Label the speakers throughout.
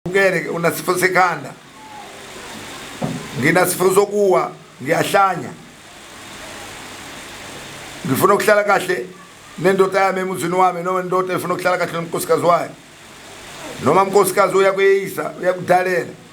Speaker 1: Ukele unasifo sekhanda. Nginasifo sokuwa, ngiyahlanya. Ngifuna ukuhlala kahle nendoda yami emuzini wami noma indoda efuna ukuhlala kahle nomkhosikazi wayo. Noma umkhosikazi uyakuyeyisa, uyakudalela.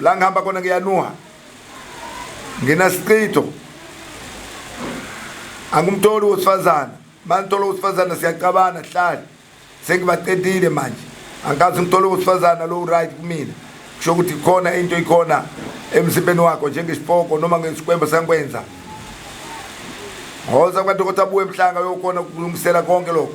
Speaker 1: la ngihamba khona ngiyanuha nginasichitho angimtholi wesifazane manithola wesifazane siyacabana hlale sengibaqedile manje angikazi ngithole wesifazane lo right kumina kusho ukuthi khona into ikhona emzimbeni wakho njengesipoko noma ngesikwembo sangikwenza hoza kwadokotela abuye emhlanga yokhona ukulungisela konke lokho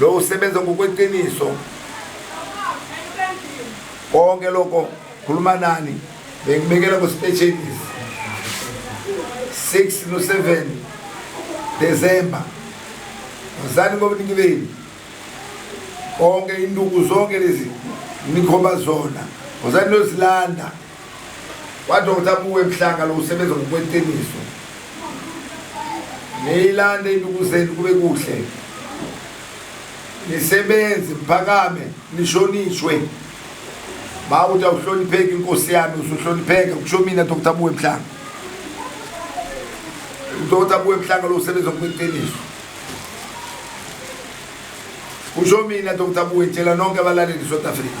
Speaker 1: lo usebenza ngokweqiniso konke lokho khuluma nani bengibekela kwesipesheni 6 no 7 December uzani ngobuningi benu konke induku zonke lezi nikhomba zona uzani lozilanda Wadoda kuwe mhlanga lo usebenza ngokweqiniso. Niyilande induku zenu kube kuhle. Nisebenze mphakame nishonishwe. Ba uthi awuhlonipheki inkosi yami usuhlonipheka kusho mina Dr. Buwe Mhlanga. Dr. Buwe Mhlanga lo usebenza ngokweqiniso. Kusho mina Dr. Buwe tshela nonke abalaleli South Africa.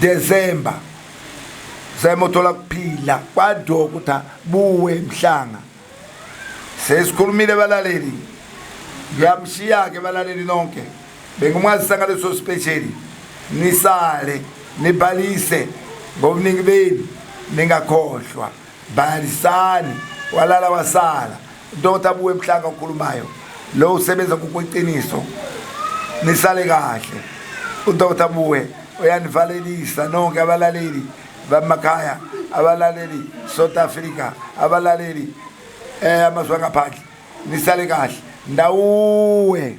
Speaker 1: december sayimothola kuphila kwadoko ukuthi buwe mhlanga sesikhulumile balaleli ngiyamshiya-ke balaleli nonke bengimwazisa ngaleso sipesheli nisale nibhalise ngobuningi benu ningakhohlwa Bhalisani walala wasala Dr Buwe Mhlanga okhulumayo lo usebenza ngokweqiniso nisale kahle uDr Buwe uyanivalelisa nonke abalaleli bamakhaya abalaleli South Africa abalaleli eh amazwe angaphandle nisale kahle ndawuwe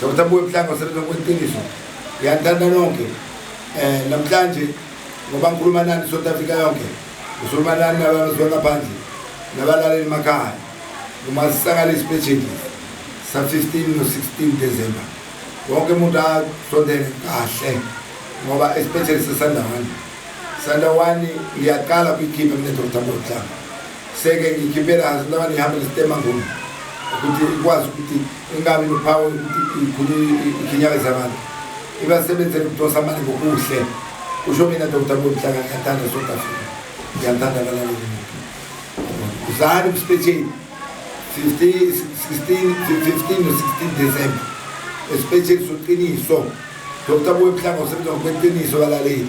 Speaker 1: Dr. Buye Mhlanga usebenza kweqiniso ngiyanithanda nonke eh namhlanje ngoba ngikhuluma nani South Africa yonke ngikhuluma nani nabazwe ngaphandle nabalaleli emakhaya uma sisakala isipesheli sa 15 no 16 December wonke umuntu asondele kahle ngoba isipesheli sesandawana sandawana iyaqala kwikhipha mina Dr. Buye Mhlanga seke ngikhiphela noma ngihambe ngesitema ngomu ukuthi ikwazi ukuthi ingabi nophawu ukuthi ikhulu ikhinyabeza abantu ibasebenzele ukudosa amali ngokuhle usho mina dr bonhlanga ngiyathanda south africa ngiyathanda balaleli uzali kusipetsheni 15 no-16 december esipetsheni soqiniso dr boyemhlanga usebenza ngokweqiniso balaleli